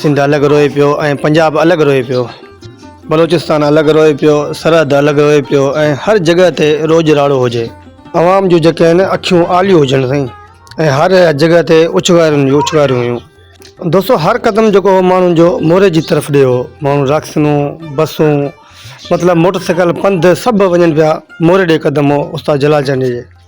سنڌ الڳ روئي پيو ۽ پنجاب الڳ روئي پيو بلوچستان الڳ روئي پيو سرحد الڳ روئي پيو ۽ هر جڳهه تي روڄ راڙو هجي عوام جون جيڪي آهن اکيون آليون هجن سائين ۽ هر جڳهه تي اڇنگارين جون اڇنگاريون هيون دوستو هر قدم جيڪو هو ماڻهن جو موري جي طرف ڏي هو ماڻهو راڪسنون بسون مطلب موٽر سائيڪل پنڌ سڀ وڃن پيا موري ڏي قدم هو استاد جلال چانڊيي جي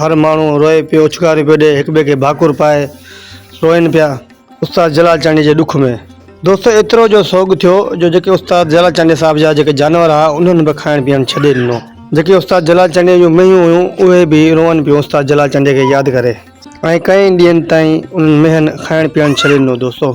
هر ماڻهو روئي پيو، اڇڪاريون پيو ڏئي، هڪٻئي کي ڀاڪر پائي روئن پيا. استاد جلال چانڊيي جي ڏک ۾. دوستو ايترو جو سوڳ ٿيو جو جيڪي استاد جلال چانڊيي صاحب جا جيڪي جانور ها انهن به کائڻ پيئڻ ڇڏي ڏنو. جيڪي استاد جلال چانڊيي جون مينهيون هيون اهي به روئن پيون استاد جلال چانڊيي کي ياد ڪري ۽ ڪئين ڏينهن تائين انهن مينهن کائڻ پيئڻ ڇڏي ڏنو دوستو.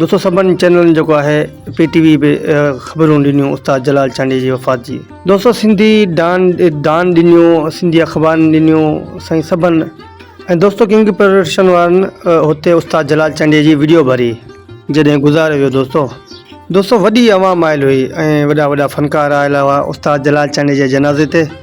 دوستو سڀن چينلن جيڪو آهي پي ٽي وي به خبرون ڏنيون استاد جلال چانڊيي جي وفات جي دوستو سنڌي ڊان ڊان ڏنيون سنڌي اخبارن ڏنيون سائين سڀن ۽ دوستو ڪنگ پروڊڪشن وارن هتي استاد جلال چانڊيي جي ويڊيو ڀري جڏهن گذاري ويو دوستو دوستو وڏي عوام آيل هئي ۽ وڏا وڏا فنڪار آيل هئا استاد جلال چانڊيي جي جنازي تي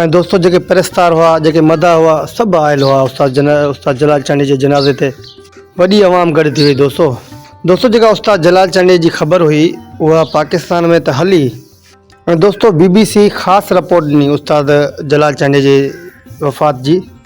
۽ دوستو جيڪي پرستار هئا، جيڪي مداح هئا، سڀ آيل هئا استاد استاد جلال چانڊيي جي جنازي تي وڏي عوام گڏ ٿي وئي دوستو دوستو جيڪا استاد جلال چانڊيي جي خبر هئي اها پاڪستان ۾ ته هلي ۽ دوستو بي بي سي خاص رپورٽ ڏني استاد جلال چانڊيي جي وفات جي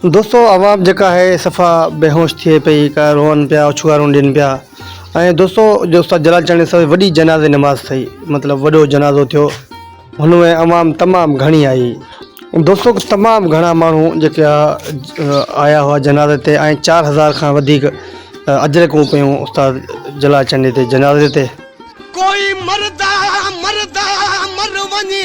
دوستو عوام جيڪا آهي صفا بيهوش ٿئي پئي ڪا روئن پيا اڇوارون ڏين پيا ۽ دوستو جو استاد جلال چانڊيو صاحب وڏي جنازي نماز ٿئي مطلب وڏو جنازو ٿيو هن ۾ عوام تمام گهڻي آئي دوستو تمام گهڻا ماڻهو جيڪي آيا هئا جنازي تي ۽ چار هزار کان وڌيڪ اجرڪون پيون استاد جلال چانڊيو تي جنازي تي ڪوئي مردا مردا مر وڃي.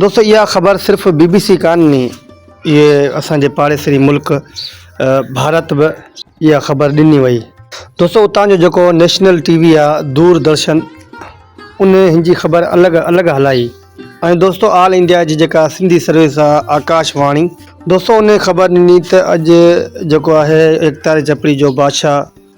دوستو اها خبر صرف بي بي سي ڪانهي اهي اسان جي پاڙيسري ملڪ ڀارت به اها خبر ڏني وئي دوستو اتان جو جيڪو نيشنل ٽي وي آ دور درشن ان هن جي خبر الڳ الڳ هلائي ۽ دوستو آل انڊيا جي جيڪا سنڌي سروس آ آڪاش واڻي دوستو ان خبر ڏني ته اڄ جيڪو آهي ايڪتاري چپڙي جو بادشاهه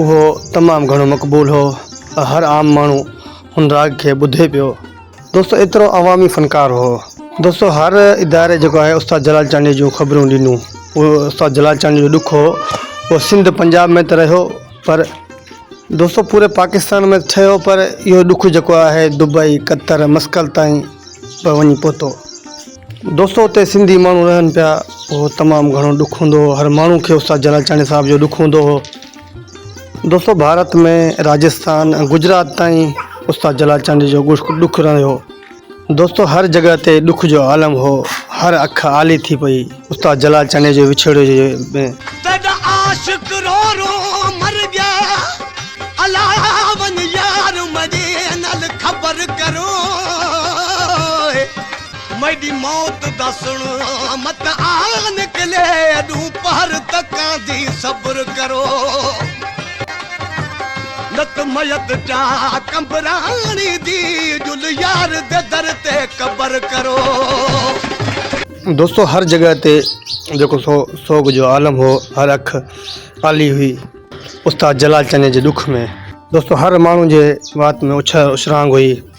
اهو تمام گهڻو مقبول هو ۽ هر عام ماڻهو هن راڳ کي ٻڌي پيو. دوستو ايترو عوامي فنڪار هو. دوستو هر اداري جيڪو آهي استاد جلال چانڊيو جون خبرون ڏنو. اهو استاد جلال چانڊيو جو ڏک هو اهو سنڌ پنجاب ۾ ته رهيو پر دوستو پوري پاڪستان ۾ ٺهيو پر اهو ڏک جيڪو آهي دبئي، قطر، مسقط تائين به وڃي پهتو. دوستو اتي سنڌي ماڻهو رهن پيا اهو تمام گهڻو ڏک هوندو هو هر ماڻهو کي استاد جلاچاڻي صاحب جو ڏک هوندو هو دوستو ڀارت ۾ راجستان گجرات تائين استاد جلاچاڻي جو ڏک رهيو دوستو هر جڳهه تي ڏک جو عالم هو هر اک آلي ٿي پئي استاد جلاچاڻي جو وڇوڙي جي ۾ تيڏا عاشق رو رو مر گيا الا ون يار مدي نل خبر ڪرو ميڊي موت دا سڻ مت آ نڪلي اڏون پهر تڪان دي صبر ڪرو نت ميت جا ڪنبراڻي دي جل يار دي در تي قبر ڪرو. دوستو هر جڳهه تي جيڪو سو سوڳ جو عالم هو هر اک آلي هئي استاد جلال چني جي ڏک ۾. دوستو هر ماڻهو جي وات ۾ اڇ اڇرانگ هئي.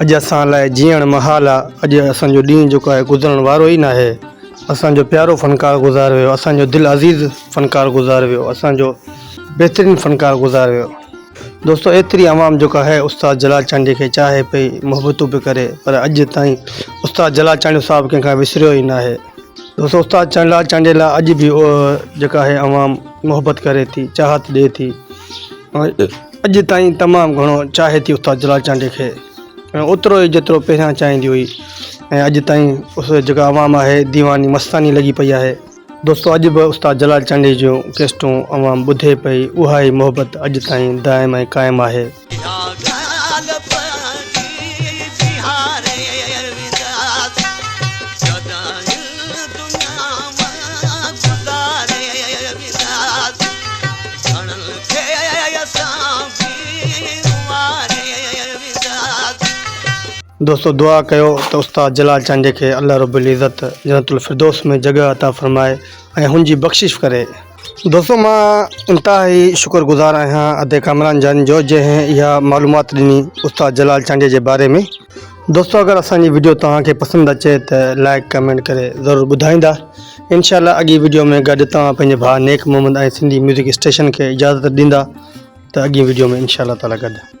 اڄ اسان لاء جيئڻ محال آ. اڄ اسان جو ڏينهن جيڪو آهي گذرڻ وارو ئي ناهي. اسان جو پيارو فنڪار گذار ويو. اسان جو دل عزيز فنڪار گذار ويو. اسان جو بهترين فنڪار گذار ويو. دوستو ايتري عوام جيڪو آهي استاد جلال چانڊيي کي چاهي پئي محبتون به ڪري پر اڄ تائين استاد جلال چانڊيو صاحب ڪنهن کان وسريو ئي ناهي. دوستو استاد جلال چانڊيي لاء اڄ به جيڪا آهي عوام محبت ڪري ٿي چاهت ڏي ٿي. اڄ تائين تمام گهڻو چاهي ٿي استاد جلال چانڊيي کي ۽ اوترو ئي جيترو پهريان چاهيندي هئي ۽ اڄ تائين اس جيڪا عوام آهي ديواني مستاني لڳي پئي آهي. دوستو اڄ به استاد جلال چانڊيي جون ڪيسٽون عوام ٻڌي پئي اها ئي محبت اڄ تائين دائم ۽ قائم آهي. دوستو دعا ڪيو ته استاد جلال چانڊيي کي الله رب العزت جنت الفردوس ۾ جڳهه عطا فرمائي ۽ هن جي بخشش ڪري. دوستو مان انتهائي شڪر گذار آهيان ادي ڪامران جان جو جنهن اها معلومات ڏني استاد جلال چانڊيي جي باري ۾. دوستو اگر اسان جي ويڊيو توهان کي پسند اچي ته لائڪ ڪمينٽ ڪري ضرور ٻڌائيندا انشاء الله اڳي ويڊيو ۾ گڏ توهان پنهنجي ڀاء نيڪ محمد ۽ سنڌي ميوزڪ اسٽيشن کي اجازت ڏيندا ته اڳي ويڊيو ۾ انشاء الله تعالي گڏ